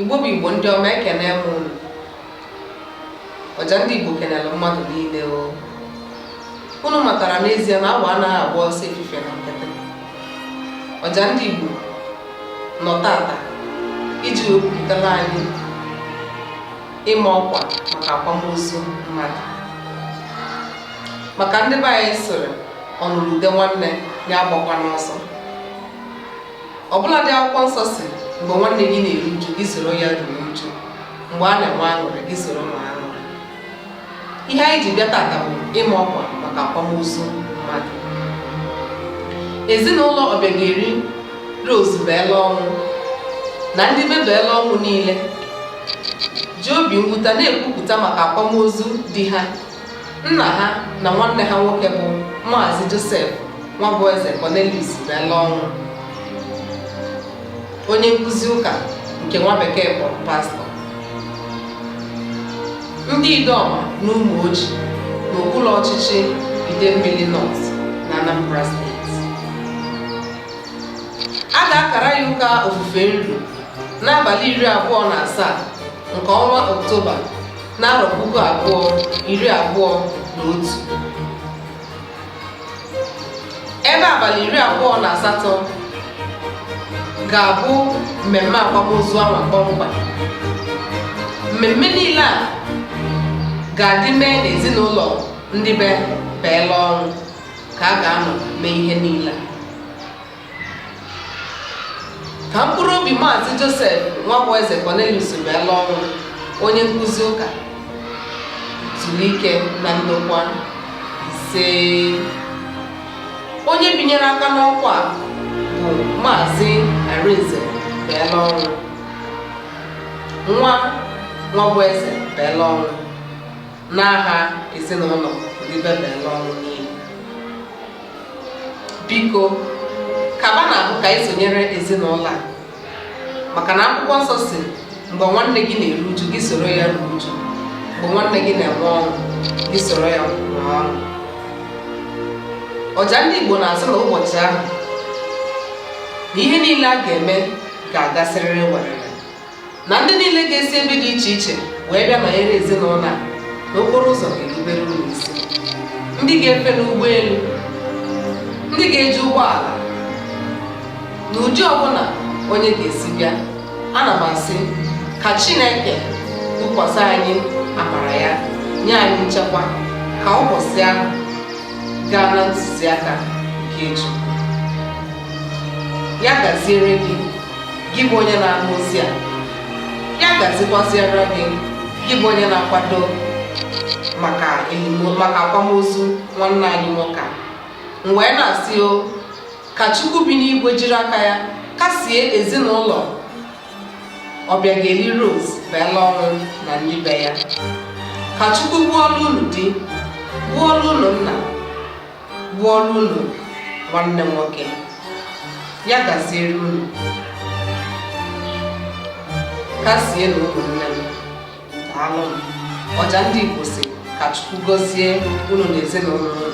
Igbo bụ Igbo ndị ọma ekene m unu ọja ndị Igbo kenere mmadụ niile o unu matara n'ezie na awọ anaghị agba ọsọ efife na nkịtị ọja ndị Igbo nọ tata iji wepụtara anyị ịma ọkwa maka akwamozu mmadụ maka ndị be anyị sịrị ọnụrụ ude nwanne ya agbakwana ọsọ ọbụladị akwụkwọ nsọ sị mgbe nwanne gị na-eru uju gị soro ya ruo uju mgbe a na-enwe aṅụrị gị soro nwee aṅụrị ihe anyị ji bịa tata bụ ịma ọkwa maka akwamozu mmadụ ezinụlọ ọbịageri Rose beela ọnwụ na ndị be beela ọnwụ niile ji obi mwute na-ekwupụta maka akwamozu di ha nna ha na nwanne ha nwoke bụ maazị joseph nwabụeze cornelius beela ọnwụ onye nkụzi ụka nke nwa bekee kpọrọ pastọ ndị ideọma na ụmụoji n'okpuru ọchịchị idemmili north na anambra steeti a ga-akara ya ụka ofufe nru n'abalị iri abụọ na asaa nke ọnwa oktoba n'arọ puku abụọ iri abụọ na otu ebe abalị iri abụọ na asatọ ga-abụ mmemme akwamozu ahụ kpọmkwem mmemme niile a ga-adị mee n'ezinụlọ ndị be beela ọnwụ ka a ga-anọ mee ihe niile ka mkpụrụ obi maazị joseph nwabụeze cornelius beela ọnwụ onye nkụzi ụka zuru ike na ndokwa ise onye binyere aka n'ọkwa a bụ maazị arinze beela ọnwụ nwa nwabụeze beela ọnwụ n'aha ezinụlọ ndị be beela ọnwụ niile biko kaba na ahụ ka anyị sonyere ezinụlọ a maka na akwụkwọ nsọ sị mgbe nwanne gị na-eru uju gị soro ya ruo uju mgbe nwanne gị na-enwe ọṅụ gị soro ya nwee ọṅụ ọja ndị Igbo na-asị na ụbọchị ahụ na ihe niile a ga-eme ga-agasịrịrị werere na ndị niile ga-esi ebe dị iche iche wee bịa nọnyere ezinụlọ a na okporo ụzọ ga-erubere unu isi ndị ga-efe n'ụgbọelu ndị ga-eji ụgbọala na ụdị ọbụla onye ga-esi bịa ana m asị ka chineke wụkwasị anyị amara ya nye anyị nchekwa ka ụbọchị ahụ gaa na ntụziaka nke chukwu ya gaziere gị gị bụ onye na-anụ ozi a ya gazikwasịara gị gị bụ onye na-akwado maka akwamozu nwanne anyị nwoke m wee na-asị o ka Chukwu bi n'igwe jiri aka ya kasie ezinụlọ Ọbịageli Rose Bella Ọnwụ na ndị be ya ka Chukwu bụrụ unu di bụrụ unu nna bụrụ unu nwanne nwoke ya gaziere unu kasienụ ụmụnne m daalụ m Ọja ndị Igbo sị ka Chukwu gọzie unu na ezinụlọ unu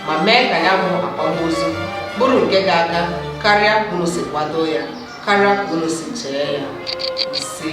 ma mee ka ya bụ akwamozu bụrụ nke ga-aga karịa ka unu si kwado ya karịa ka unu si chee ya ise